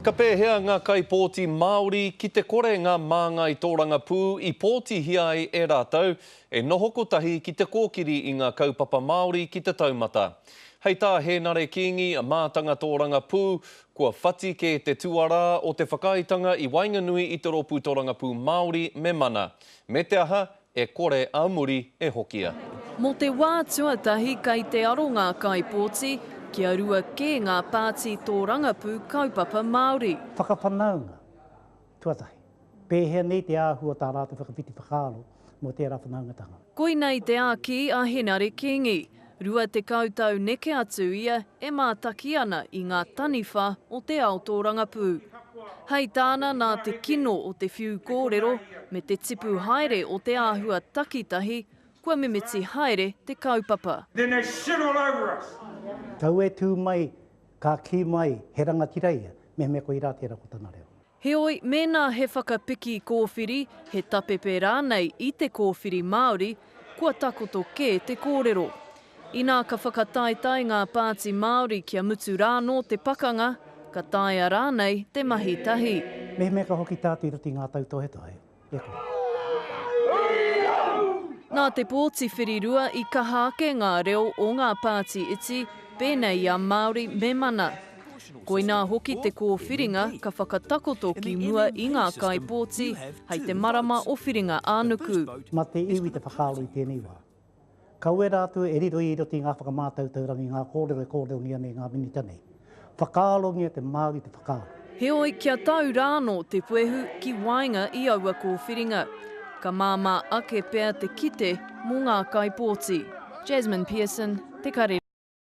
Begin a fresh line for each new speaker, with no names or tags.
Ka pēhea ngā kaipōti Māori ki te kore ngā māngai tōrangapū i pōtihia ai e rātou e noho kotahi ki te kōkiri i ngā kaupapa Māori ki te taumata? Hei tā Hēnare Kīngi, Mātanga Tōrangapū, Kua whati kē te tuarā o te whakaaetanga i waenganui i te rōpū tōrangapū Māori me mana. Me te aha, E kore a muri e hokia. Mō te wā
tuatahi kei te aro ngā kaipōti, kia rua kē ngā pāti tōrangapū kaupapa Māori. Whakawhanaunga
tuatahi, pēhea nei te āhua tā rātou whakawhiti whakaaro mō tērā whanaungatanga. Koinei te āki
a Henare Kingi, Rua tekau tau neke atu ia e mātaki ana i ngā taniwha o te ao tōrangapū. Hai tāna nā te kino o te whiu kōrero me te tipu haere o te āhua takitahi kua mimiti haere te kaupapa. Then they shit all
over us. Tau e tū
mai, ka kī mai he rangatira ia, mehemea koirā tērā ko tana reo. Heoi, mēnā
he whakapiki kōwhiri, he tapepe rānei i te kōwhiri Māori, kua takoto kē te kōrero. Inā ka whakataetae ngā pāti Māori kia mutu rānō te pakanga, ka taea rānei te mahi tahi. Mehemea ka hoki tā
Te Iritinga a Tautohetohe,
Nā te pōti whirirua i kaha ake ngā reo o ngā pāti iti, pēnei i a Māori me Mana. Koinā hoki te kōwhiringa ka whakatakoto ki mua i ngā kaipōti hei te marama o Whiringa-ā-nuku. Mā te iwi te
whakaaro i tēnei wā. Ka uera atu e riro i roto i ngā whakamātau taurangi ngā kōrero e kōrerongia nei ngā minita nei. Whakaarongia te Māori te whakaaro. Heoi kia tau
rā anō te puehu ki waenga i aua kōwhiringa, ka māmā ake pea te kite mō ngā kaipōti. Jasmine Pearson, Te Karere.